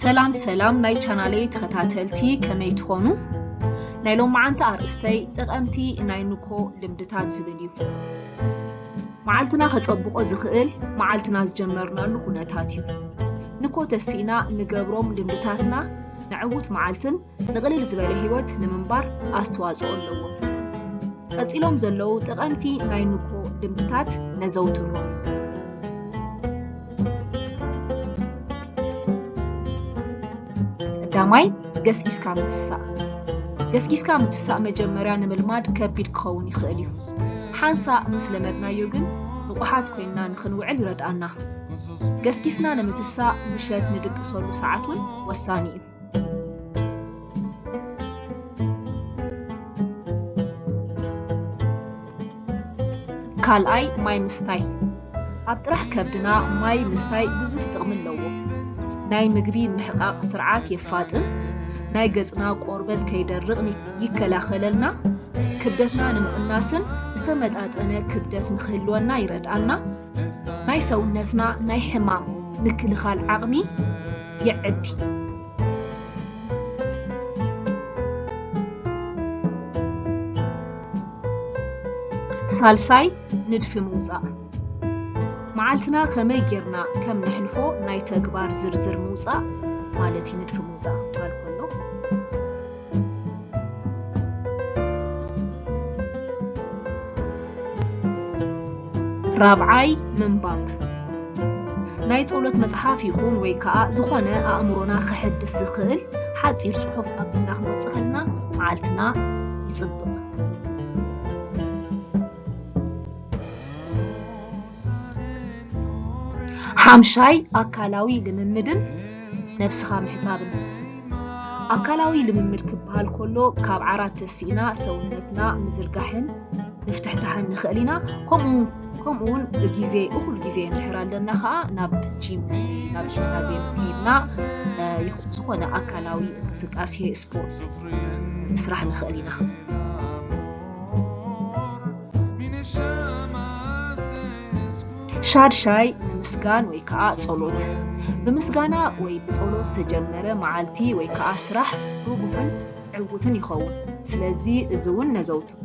ሰላም ሰላም ናይ ቻናለይ ተኸታተልቲ ከመይ ትኾኑ? ናይ ሎማዓንቲ ኣርእስተይ ጠቐምቲ ናይ ንኮ ልምድታት ዝብል እዩ። መዓልትና ከፀብቆ ዝኽእል መዓልትና ዝጀመርናሉ ኩነታት እዩ። ንኮ ተሲእና ንገብሮም ልምድታትና ንዕውት መዓልትን ንቕልል ዝበለ ህይወት ንምንባር ኣስተዋጽኦ ኣለዎ። ቀጺሎም ዘለዉ ጠቐምቲ ናይ ንግሆ ልምድታት ነዘውትሮም። ቀዳማይ፣ ገስጊስካ ምትሳእ። ገስጊስካ ምትሳእ መጀመርያ ንምልማድ ከቢድ ክኸውን ይኽእል እዩ። ሓንሳእ ምስ ለመድናዮ ግን ንቑሓት ኮይንና ንኽንውዕል ይረድኣና። ገስጊስና ንምትሳእ ምሸት ንድቅሰሉ ሰዓት እውን ወሳኒ እዩ። ካልኣይ ማይ ምስታይ ኣብ ጥራሕ ከብድና ማይ ምስታይ ብዙሕ ጥቕሚ ኣለዎ። ናይ ምግቢ ምሕቓቕ ስርዓት የፋጥን፣ ናይ ገፅና ቆርበት ከይደርቕ ይከላኸለልና፣ ክብደትና ንምቕናስን ዝተመጣጠነ ክብደት ንክህልወና ይረድኣና። ናይ ሰውነትና ናይ ሕማም ምክልኻል ዓቕሚ የዕቢ። ሳልሳይ ንድፊ ምውፃእ መዓልትና ከመይ ጌርና ከም ነሕልፎ ናይ ተግባር ዝርዝር ምውፃእ ማለት እዩ ንድፊ ምውፃእ ክበሃል ከሎ ራብዓይ፣ ምንባብ ናይ ጸሎት መጽሓፍ ይኹን ወይ ከኣ ዝኾነ ኣእምሮና ከሕድስ ዝኽእል ሓጺር ጽሑፍ ኣቢልና ክንወጽእ ከለና መዓልትና ይጽብቕ። ሓምሻይ ኣካላዊ ልምምድን ነብስኻ ምሕፃብን ኣካላዊ ልምምድ ክበሃል ከሎ ካብ ዓራት ተሲእና ሰውነትና ምዝርጋሕን ምፍትሕታሕን ንኽእል ኢና ከምኡ ከምኡ እውን ግዜ እኹል ግዜ እንድሕር ኣለና ከዓ ናብ ጂም ናብ ጂምናዝየም ከይድና ዝኾነ ኣካላዊ እንቅስቃሴ ስፖርት ምስራሕ ንኽእል ኢና ሻድሻይ ብምስጋን ወይ ከዓ ጸሎት ብምስጋና ወይ ብጸሎት ዝተጀመረ መዓልቲ ወይ ከዓ ስራሕ ርቡሕን ዕውትን ይኸውን። ስለዚ እዚ እውን ነዘውትሮ።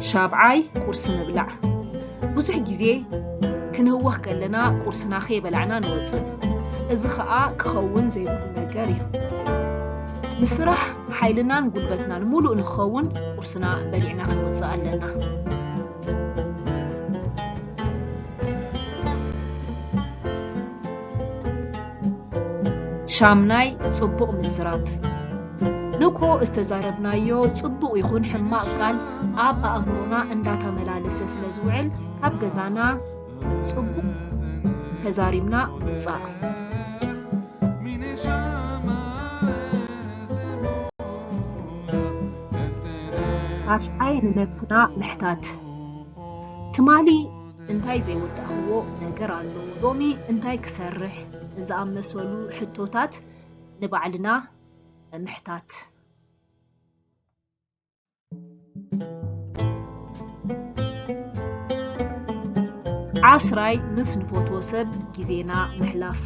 ሻብዓይ፣ ቁርሲ ምብላዕ። ብዙሕ ግዜ ክንህወኽ ከለና ቁርስና ከይበላዕና ንወጽእ። እዚ ከኣ ክኸውን ዘይብሉ ነገር እዩ። ንስራሕ ሓይልናን ጉልበትናን ምሉእ ንክኸውን ቁርስና በሊዕና ክንወጽእ ኣለና። ሻምናይ ጽቡቕ ምዝራብ ንኮ ዝተዛረብናዮ ጽቡቕ ይኹን ሕማቕ ቃል ኣብ ኣእምሮና እንዳታመላለሰ ስለ ዝውዕል ካብ ገዛና ጽቡቕ ተዛሪብና ምውጻእ ኣስሓይ ንነብስና ምሕታት ትማሊ እንታይ ዘይወዳእኽዎ ነገር ኣሎ? ሎሚ እንታይ ክሰርሕ? ዝኣመሰሉ ሕቶታት ንባዕልና ምሕታት። ዓስራይ፣ ምስ ንፈትዎ ሰብ ግዜና ምሕላፍ።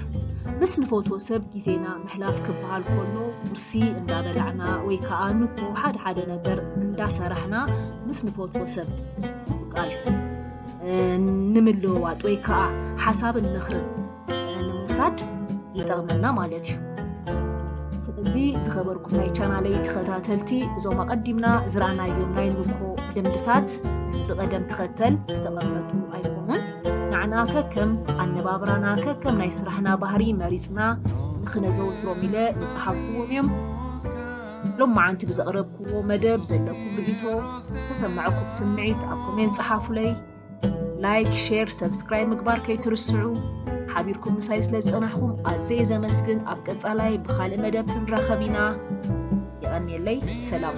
ምስ ንፈትዎ ሰብ ግዜና ምሕላፍ ክበሃል ከሎ፣ ቁርሲ እንዳበላዕና ወይ ከኣ ንግሆ ሓደ ሓደ ነገር እንዳሰራሕና ምስ ንፈትዎ ሰብ፣ ምቃል ንምልውዋጥ ወይ ከዓ ሓሳብን ምኽርን ንምውሳድ ይጠቕመና ማለት እዩ ስለዚ ዝኸበርኩም ናይ ቻናለይ ተኸታተልቲ እዞም ኣቐዲምና ዝረኣናዮም ናይ ንኮ ልምድታት ብቐደም ተኸተል ዝተቐመጡ ኣይኮኑን ንዓና ከከም ኣነባብራና ከከም ናይ ስራሕና ባህሪ መሪፅና ንክነዘውትሮም ኢለ ዝፀሓፍኩዎም እዮም ሎማዓንቲ ብዘቕረብክዎ መደብ ዘለኩም ርኢቶ ዝተሰማዕኩም ስምዒት ኣብ ኮሜንት ጸሓፉለይ ላይክ ሼር ሰብስክራይብ ምግባር ከይትርስዑ ሓቢርኩም ምሳይ ስለ ዝጸናሕኩም ኣዘየ ዘመስግን ኣብ ቀጻላይ ብኻልእ መደብ ክንራኸብ ኢና የቐንየለይ ሰላም